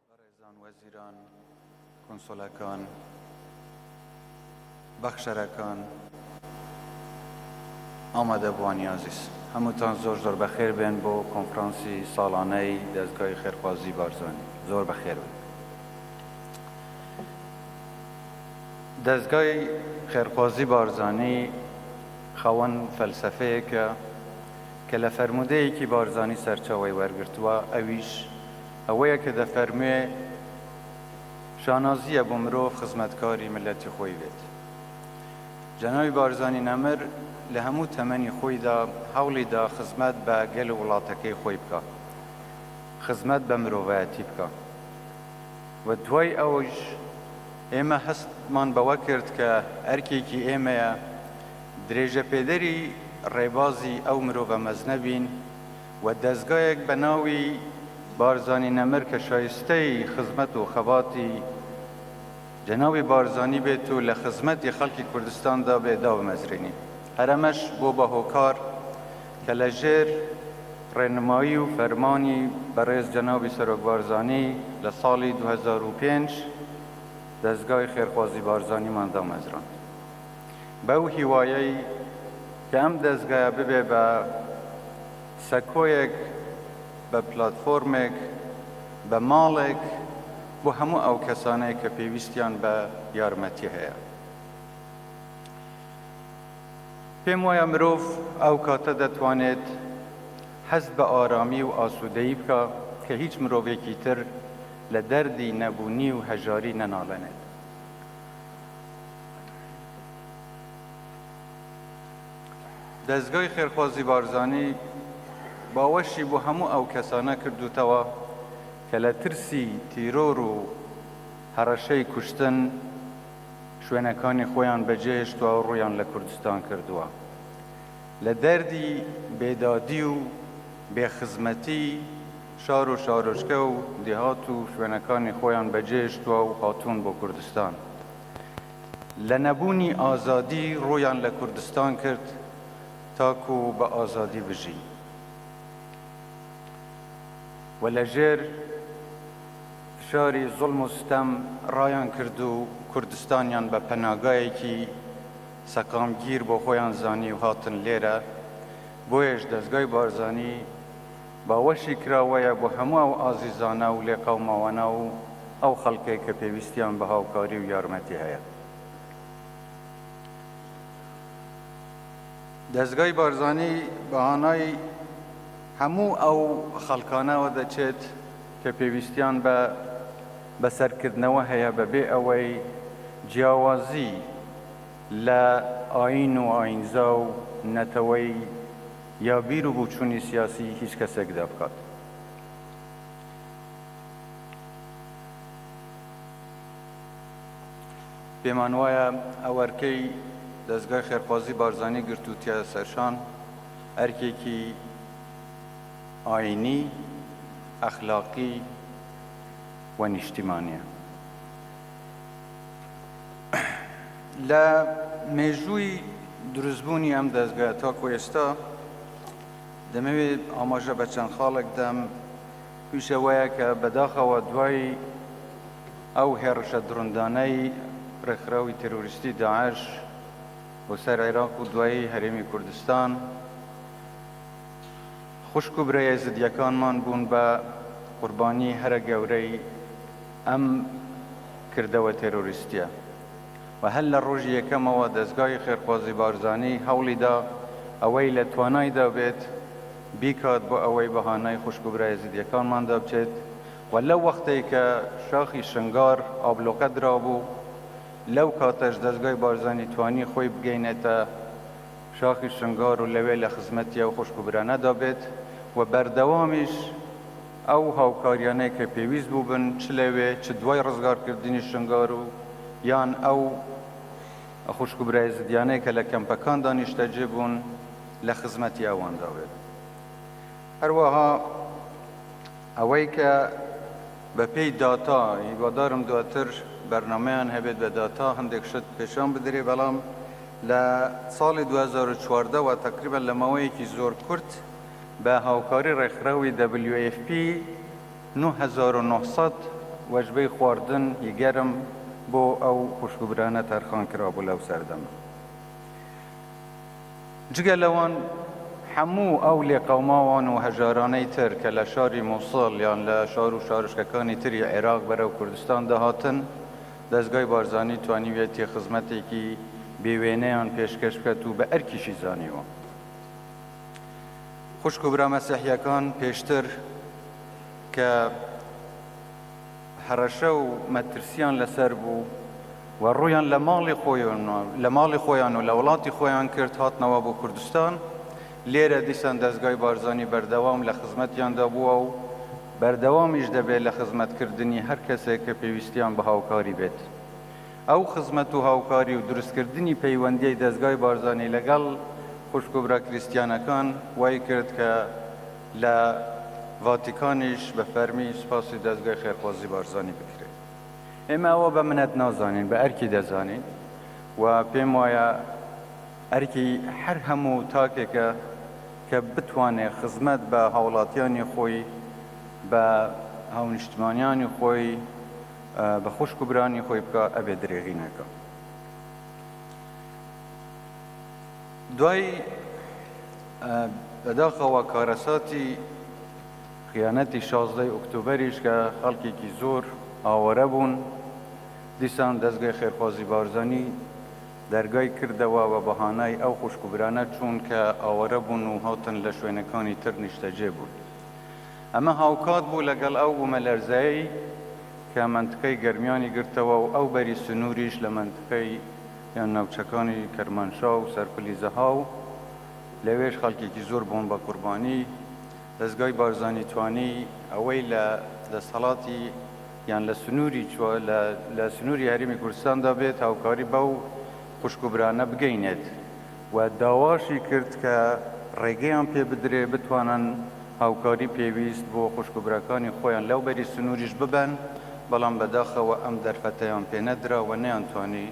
بەڕێزان وەزیران، کونسوڵەکان، بەخشەرەکان، ئامادەبووانی ئازیز، هەمووتان زۆر زۆر بەخێر بێن بۆ کۆنفرانسی ساڵانەی دەزگای خێرخوازی بارزانی زۆر بەخێر بن. دەزگای خێرخوازی بارزانی خاوەن فەلسەفەیەکە کە لە فەرموودەیەکی بارزانی سەرچاوەی وەرگرتووە ئەویش ئەوەیە کە دەفەرموێ، شانازییە بۆ مرۆڤ خزمەتکاری میللەتی خۆی بێت. جەنابی بارزانی نەمر لە هەموو تەمەنی خۆیدا هەوڵی دا خزمەت بە گەل و وڵاتەکەی خۆی بکا، خزمەت بە مرۆڤایەتی بکا و دوای ئەوەش ئێمە هەستمان بەوە کرد کە ئەرکێکی ئێمەیە درێژەپێدەری ڕێبازی ئەو مرۆڤە مەزنە بین، و دەزگایەک بە ناوی بارزانی نەمر کە شایستەی خزمەت و خەباتی جەنابی بارزانی بێت و لە خزمەتی خەڵکی کوردستان دا بێت دابمەزرێنین. هەر ئەمەش بۆ بە هۆکار کە لە ژێر ڕێنمایی و فەرمانی بەڕێز جەنابی سەرۆک بارزانی لە ساڵی دوو هەزار و پێنج دەزگای خێرخوازی بارزانیمان دامەزراند. بەو هیوایەی کە ئەم دەزگایە ببێ بە سەکۆیەک، بە پلاتفۆرمێک، بە ماڵێک بۆ هەموو ئەو کەسانەی کە پێویستیان بە یارمەتی هەیە. پێم وایە مرۆڤ ئەو کاتە دەتوانێت هەست بە ئارامی و ئاسوودەیی بکا کە هیچ مرۆڤێکی تر لە دەردی نەبوونی و هەژاری نەناڵێنێت. دەزگای خێرخوازی بارزانی باوەشی بۆ هەموو ئەو کەسانە کردووتەوە کە لە ترسی تیرۆر و هەڕەشەی کوشتن شوێنەکانی خۆیان بەجێهێشتوە و ڕوویان لە کوردستان کردووە لە دەردی بێدادی و بێخزمەتی شار و شارۆچکە و دێهات و شوێنەکانی خۆیان بەجێهێشتوە و هاتوون بۆ کوردستان. لە نەبوونی ئازادی ڕوویان لە کوردستان کرد تاکو بە ئازادی بژین و لە ژێر فشاری زوڵم و ستەم ڕایان کرد و کوردستانیان بە پەناگایەکی سەقامگیر بۆ خۆیان زانی و هاتن لێرە بۆیەش دەزگای بارزانی باوەشی کراوەیە بۆ هەموو ئەو ئازیزانە و لێقەوماوانە و ئەو خەڵکەی کە پێویستیان بە هاوکاری و یارمەتی هەیە. دەزگای بارزانی بە هانای هەموو ئەو خەڵکانەوە دەچێت کە پێویستیان بە بەسەرکردنەوە هەیە بە بێ ئەوەی جیاوازی لە ئایین و ئایینزا و نەتەوەی یا بیر و بوچونی سیاسی هیچ کەسێک دا بکات. پێمان وایە ئەو ئەرکەی دەزگای خێرخوازی بارزانی گرتوتیە سەرشان ئەرکێکی ئاینی، ئەخلاقی و نیشتیمانیە. لە مێژووی دروستبوونی ئەم دەستگا تاکو ئێستا دەمەوێت ئاماژە بە چەند خاڵێک دەم توشەوەیە کە بەداخەوە دوای ئەو هێڕشە دڕندانەی ڕێکخراوی تەرۆریستی داعش بۆ سەر عێراق و دوایی هەرێمی کوردستان خوشک و برای زدیەکانمان بوون بە قوربانی هەرە گەورەی ئەم کردەوە تێرۆریستیە و هەر لە ڕۆژی یەکەمەوە دەزگای خێرخوازی بارزانی هەوڵی دا ئەوەی لە توانایدا بێت بیکات بۆ ئەوەی بەهانای خوشک و برا ئێزیدیەکانمان دا بچێت و لەو وەختەی کە شاخی شنگار ئابلۆقە درابوو لەو کاتەش دەزگای بارزانی توانی خۆی بگەینێتە شاخی شنگار و لەوێ لە خزمەتی ئەو خوشک و برانەدا بێت و بەردەوامیش ئەو هاوکاریانەی کە پێویست بووبن چ لەوێ چ دوای ڕزگارکردنی شنگال و یان ئەو خوشک و برا ئێزدیانەی کە لە کەمپەکاندا نیشتەجێ بوون لە خزمەتی ئەواندا بێت. هەروەها ئەوەی کە بە پێی داتا، هیوادارم دواتر بەرنامەیان هەبێت بە داتا هەندێک شت پێشان بدرێ، بەڵام لە ساڵی دوو هەزار و چواردە وە تەقریبەن لە ماوەیەکی زۆر کورت، بە هاوکاری ڕێکخراوی WFP نۆ هەزار و نۆ سەد وەجبەی خواردن ی گەرم بۆ ئەو خوشکوبرانە تەرخان کرابوو لەو سەردەمە. جگە لەوان هەموو ئەو لێقەوماوان و هەژارانەی تر کە لە شاری موسڵ یان لە شار و شارۆچکەکانی تری عێراق بەرەو کوردستان دەهاتن، دەزگای بارزانی توانیویەتی خزمەتێکی بێ وێنەیان پێشکەش بکات و بە ئەرکیشی زانیوە. خوشک و برا مەسیحیەکان پێشتر کە هەڕەشە و مەترسیان لەسەر بوو و ڕویان لە ماڵی خۆیان لە ماڵی خۆیان و لە وڵاتی خۆیان کرد هاتنەوە بۆ کوردستان لێرە دیسان دەستگای بارزانی بەردەوام لە خزمەتیاندا بووە و بەردەوامیش دەبێت لە خزمەتکردنی هەر کەسێک کە پێویستیان بە هاوکاری بێت. ئەو خزمەت و هاوکاری و دروستکردنی پەیوەندیی دەزگای بارزانی لەگەڵ خوشک و برا کریستیانەکان وای کرد کە لە ڤاتیکانیش بە فەرمی سوپاسی دەزگای خێرخوازی بارزانی بکرێت. ئێمە ئەوە بە منەت نازانین، بە ئەرکی دەزانین و پێم وایە ئەرکی هەر هەموو تاکێکە کە بتوانێت خزمەت بە هاوڵاتیانی خۆی، بە هاونیشتمانیانی خۆی، بە خوشک و برانی خۆی بکا ئەبێ درێغی نەکا دوای بەداخەوە کارەساتی خیانەتی شازدەی ئۆکتۆبەریش کە خەڵکێکی زۆر ئاوارە بوون دیسان دەستگای خێرخوازی بارزانی دەرگای کردەوە بە بەهانای ئەو خوشکوبرانە چوون کە ئاوارە بوون و هاتن لە شوێنەکانی تر نیشتەجێ بوون ئەمە هاوکات بوو لەگەڵ ئەو بوومەلەرزەیەی کە مەنتقەی گەرمیانی گرتەوە و ئەو بەری سنووریش لە مەنتقەی یان ناوچەکانی کەرمانشا و سەرپلی زەها و لەوێش خەڵکێکی زۆر بوون بە قوربانی دەزگای بارزانی توانی ئەوەی لە دەستهەڵاتی یان لە سنووری لە سنووری هەرێمی کوردستاندا بێت هاوکاری بەو خوشک و برانە بگەینێت. و داواشی کرد کە ڕێگەیان پێ بدرێ بتوانن هاوکاری پێویست بۆ خوشک و براکانی خۆیان لەو بەری سنووریش ببەن، بەڵام بەداخەوە ئەم دەرفەتەیان پێ نەدرا و نەیانتوانی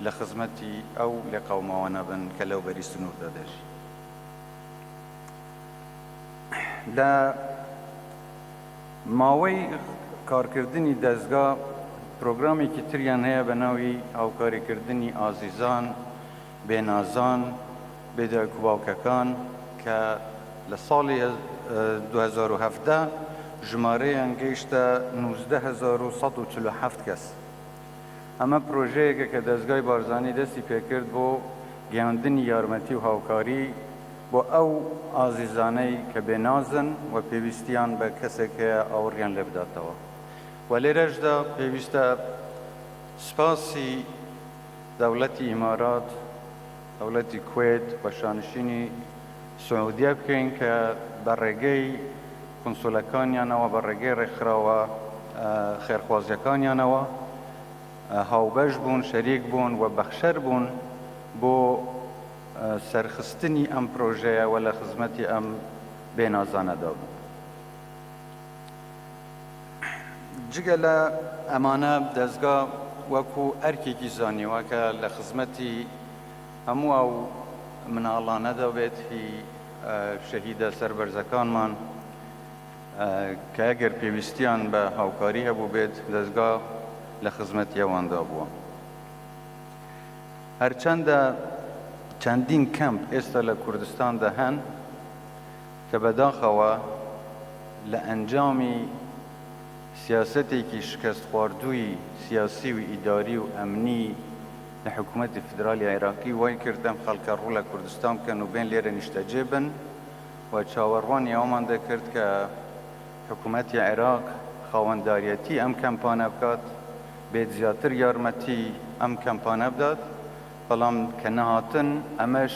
لە خزمەتی ئەو لێقەوماوانە بن کە لەو بەری سنووردا دەژی. لە ماوەی کارکردنی دەزگا پرۆگرامێکی تریان هەیە بە ناوی هاوکاریکردنی ئازیزان، بێ نازان، بێ دایک و باوکەکان کە لە ساڵی دوو هەزار و هەڤدە ژمارەیان گەیشتە نوزدە هەزار و سەد و چل و حەفت کەس. ئەمە پرۆژەیەکە کە دەزگای بارزانی دەستی پێکرد بۆ گەیاندنی یارمەتی و هاوکاری بۆ ئەو ئازیزانەی کە بێ نازن و پێویستیان بە کەسێک هەیە ئاوڕیان لێ بداتەوە و لێرەشدا پێویستە سپاسی دەوڵەتی ئیمارات، دەوڵەتی کوەیت و شانشینی سعودیە بکەین کە بە ڕێگەی کونسولەکانیانەوە، بە ڕێگەی ڕێکخراوە خێرخوازیەکانیانەوە هاوبەش بوون، شەریک بوون و بەخشەر بوون بۆ سەرخستنی ئەم پرۆژەیە و لە خزمەتی ئەم بێنازانەدا بوون. جگە لە ئەمانە دەزگا وەکو ئەرکێکی زانیوە کە لە خزمەتی هەموو ئەو مناڵانەدا بێت هی شەهیدە سەربەرزەکانمان کە ئەگەر پێویستیان بە هاوکاری هەبوو بێت دەزگا لە خزمەتی ئەواندا بووە هەرچەندە چەندین کەمپ ئێستا لە کوردستاندا هەن کە بەداخەوە لە ئەنجامی سیاسەتێکی شکەستخواردووی سیاسی و ئیداری و ئەمنی لە حکوومەتی فیدراڵی عێراقی وای کرد ئەم خەڵکە ڕوو لە کوردستان بکەن و بێن لێرە نیشتەجێ بن و چاوەڕوانی ئەوەمان دەکرد کە حکوومەتی عێراق خاوەنداریەتی ئەم کەمپانە بکات بێت زیاتر یارمەتی ئەم کەمپانە بدات بەڵام کە نەهاتن ئەمەش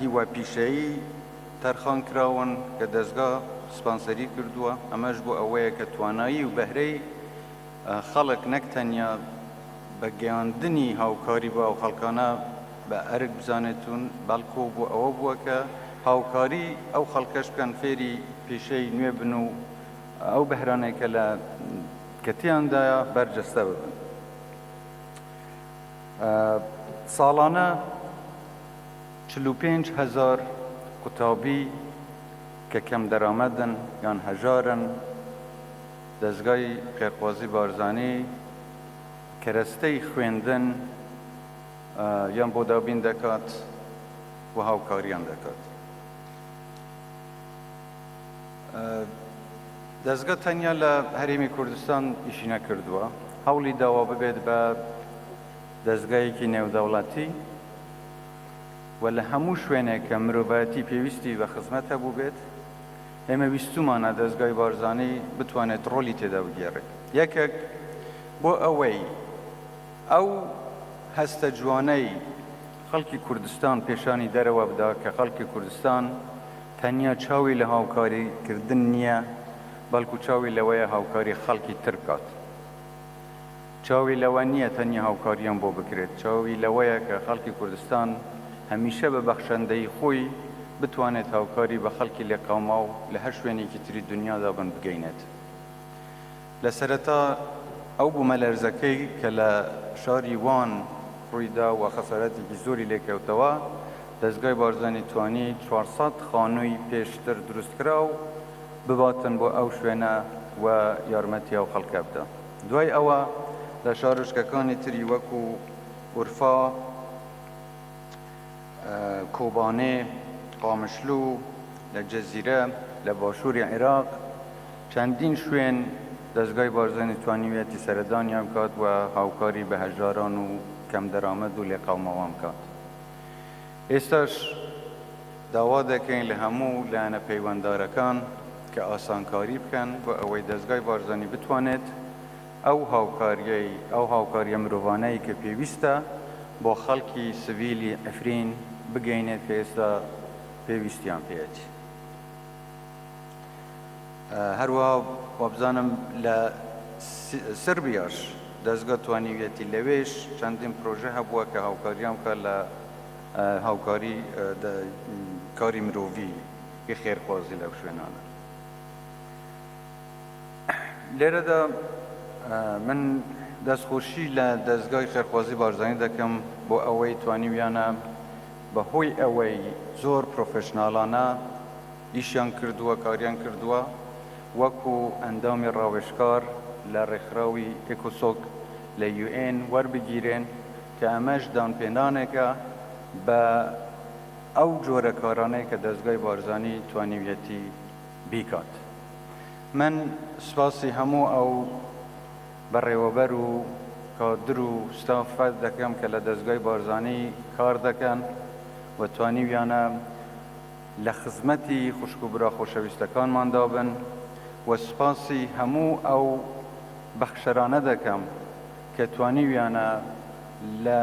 هیوا پیشەیی تەرخانکراون کە دەزگا سپانسەری کردووە، ئەمەش بۆ ئەوەیە کە توانایی و بەهرەی خەڵک نەک تەنیا بە گەیاندنی هاوکاری بۆ ئەو خەڵکانە بە ئەرک بزانێتون بەڵکو بۆ ئەوە بووە کە هاوکاری ئەو خەڵکەش بکەن فێری پیشەی نوێ بن و ئەو بەهرانەی کە تێیاندایە بەرجەستە ببن. ساڵانە چل و پێنج هەزار قوتابی کە کەمدەرامەتن یان هەژارن، دەزگای خێرخوازی بارزانی کەرەستەی خوێندن یان بۆ دابین دەکات و هاوکاریان دەکات. دەزگە تەنیا لە هەرێمی کوردستان ئیشی نەکردووە، هەوڵی داوە ببێت بە دەزگایەکی نێودەوڵەتی و لە هەموو شوێنێک کە مرۆڤایەتی پێویستی بە خزمەت هەبووبێت، ئێمە ویستوومانە دەزگای بارزانی بتوانێت ڕۆلی تێدا بگێڕێت. یەکێک بۆ ئەوەی ئەو هەستە جوانەی خەڵکی کوردستان پێشانی دەرەوە بدا کە خەڵکی کوردستان تەنیا چاوی لە هاوکاری کردن نیە بەڵکو چاوی لەوەیە هاوکاری خەڵکی تر بکات چاوی لەوە نیە تەنیا هاوکاریان بۆ بکرێت چاوی لەوەیە کە خەڵکی کوردستان هەمیشە بە بەخشەندەیی خۆی بتوانێت هاوکاری بە خەڵکی لێقەوماو لە هەر شوێنێکی تری دنیادا بن بگەینێت لە سەرەتا ئەو بوومەلەرزەکەی کە لە شاری وان ڕوویدا و خەساراتێکی زۆری لێکەوتەوە، دەزگای بارزانی توانی چوار سەد خانووی پێشتر دروستکراو بباتن بۆ ئەو شوێنە و یارمەتی ئەو خەڵکە بدا. دوای ئەوە لە شارۆچکەکانی تری وەکو ئورفا، کۆبانێ، قامشلو، لە جزیرە، لە باشووری عێراق چەندین شوێن دەزگای بارزانی توانیویەتی سەردانیان بکات و هاوکاری بە هەژاران و کەم دەرامەت و لێقەوماوان بکات. ئێستاش داوا دەکەین لە هەموو لایەنە پەیوەندارەکان کە ئاسانکاری بکەن بۆ ئەوەی دەزگای بارزانی بتوانێت، ئەو هاوکارییەی، ئەو هاوکارییە مرۆڤانەی کە پێویستە بۆ خەڵکی سڤیلی عفرین بگەینێت کە ئێستا پێویستیان پێیەت. هەروەها وابزانم لە سربیاش دەزگا توانیویەتی لەوێش چەندین پرۆژە هەبووە کە هاوکاریان بکات لە هاوکاری کاری مرۆڤی خێرخوازی لەو شوێنانە. لێرەدا من دەست خۆشی لە دەزگای خێرخوازی بارزانی دەکەم بۆ ئەوەی توانیویانە بە هۆی ئەوەی زۆر پرۆفشناڵانە ئیشیان کردووە کاریان کردووە وەکو ئەندامی ڕاوێشکار لە ڕێکخراوی ئێکۆسۆک لە یوئێن وەربگیرێن کە ئەمەش دانپێنانێکە بە ئەو جۆرە کارانەی کە دەزگای بارزانی توانیویەتی بیکات من سوپاسی هەموو ئەو بەڕێوەبەر و کادر و ستافە دەکەم کە لە دەزگای بارزانی کار دەکەن و توانیویانە لە خزمەتی خوشک و برا خۆشەویستەکانماندا بن و سوپاسی هەموو ئەو بەخشەرانە دەکەم کە توانیویانە لە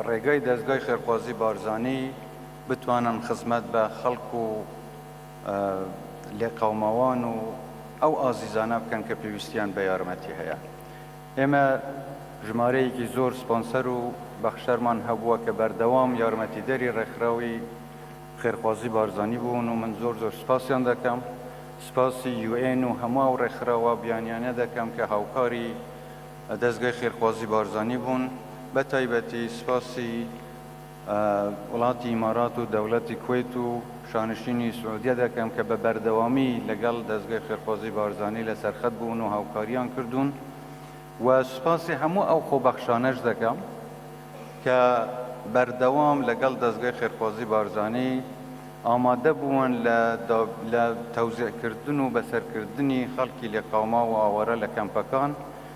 ڕێگای دەزگای خێرخوازی بارزانی بتوانن خزمەت بە خەڵک و لێقەوماوان و ئەو ئازیزانە بکەن کە پێویستیان بە یارمەتی هەیە. ئێمە ژمارەیەکی زۆر سپۆنسەر و بەخشەرمان هەبووە کە بەردەوام یارمەتیدەری ڕێکخراوی خێرخوازی بارزانی بوون و من زۆر زۆر سپاسیان دەکەم. سپاسی یو ئێن و هەموو ئەو ڕێکخراوە بیانیانە دەکەم کە هاوکاری دەزگای خێرخوازی بارزانی بوون. بە تایبەتی سپاسی. وڵاتی ئیمارات و دەوڵەتی کوەیت و شانشینی سعودیە دەکەم کە بە بەردەوامی لەگەڵ دەزگەی خێرخوازی بارزانی لە سەرخەت بوون و هاوکاریان کردوون و سوپاسی هەموو ئەو خۆبەخشانەش دەکەم کە بەردەوام لەگەڵ دەزگەی خێرخوازی بارزانی ئامادە بوون لە تەوزیعکردن و بەسەرکردنی خەڵکی لێقاوماو و ئاوارە لە کەمپەکان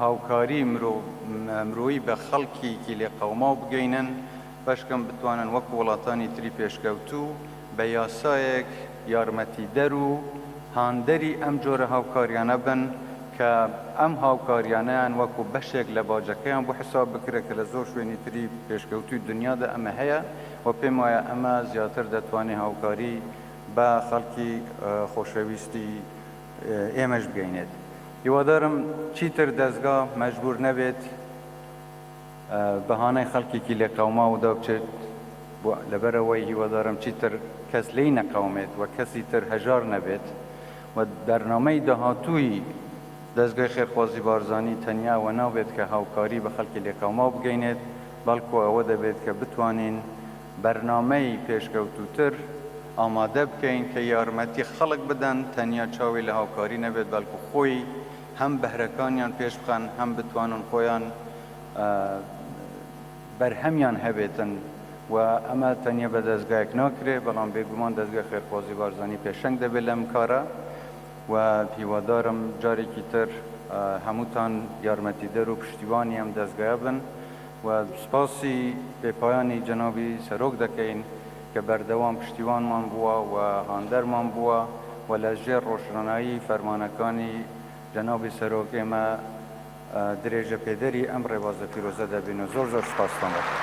هاوکاری مرۆ مرۆیی بە خەڵکیکی لێ قەوماو بگەینن بەشکەم بتوانن وەک وڵاتانی تری پێشکەوتوو بە یاسایەک یارمەتی دەر و هاندەری ئەم جۆرە هاوکاریانە بن کە ئەم هاوکاریانەیان وەکو بەشێک لە باجەکەیان بۆ حساب بکرێ کە لە زۆر شوێنی تری پێشکەوتووی دنیادا ئەمە هەیە و پێم وایە ئەمە زیاتر دەتوانێ هاوکاری بە خەڵکی خۆشەویستی ئێمەش بگەینێت هیوادارم چیتر دەزگا مەجبور نەبێت بەهانای خەڵکێکی لێقەوماو دابچێت بۆ لەبەرەوەی هیوادارم چیتر کەس لێی نەقەومێت و کەسی تر هەژار نەبێت و بەرنامەی داهاتووی دەزگای خێرخوازی بارزانی تەنیا ئەوە نابێت کە هاوکاری بە خەڵکی لێقەوماو بگەینێت بەڵکو ئەوە دەبێت کە بتوانین بەرنامەی پێشکەوتووتر ئامادە بکەین کە یارمەتی خەڵک بدەن تەنیا چاوی لە هاوکاری نەبێت بەڵکو خۆی هەم بەهرەکانیان پێش بخەن هەم بتوانن خۆیان بەرهەمیان هەبێتن و ئەمە تەنیا بە دەزگایەک ناکرێت بەڵام بێگومان دەزگای خێرخوازی بارزانی پێشەنگ دەبێت لەم کارە و هیوادارم جارێکی تر هەمووتان یارمەتیدەر و پشتیوانی ئەم دەزگایە بن. و سپاسی بێپایانی جەنابی سەرۆک دەکەین کە بەردەوام پشتیوانمان بووە و هاندەرمان بووە و لە ژێر ڕۆشنایی فەرمانەکانی جەنابی سەرۆک ئێمە درێژەپێدەری ئەم ڕێبازە پیرۆزە دەبین و زۆر زۆر سپاستان دەکەین.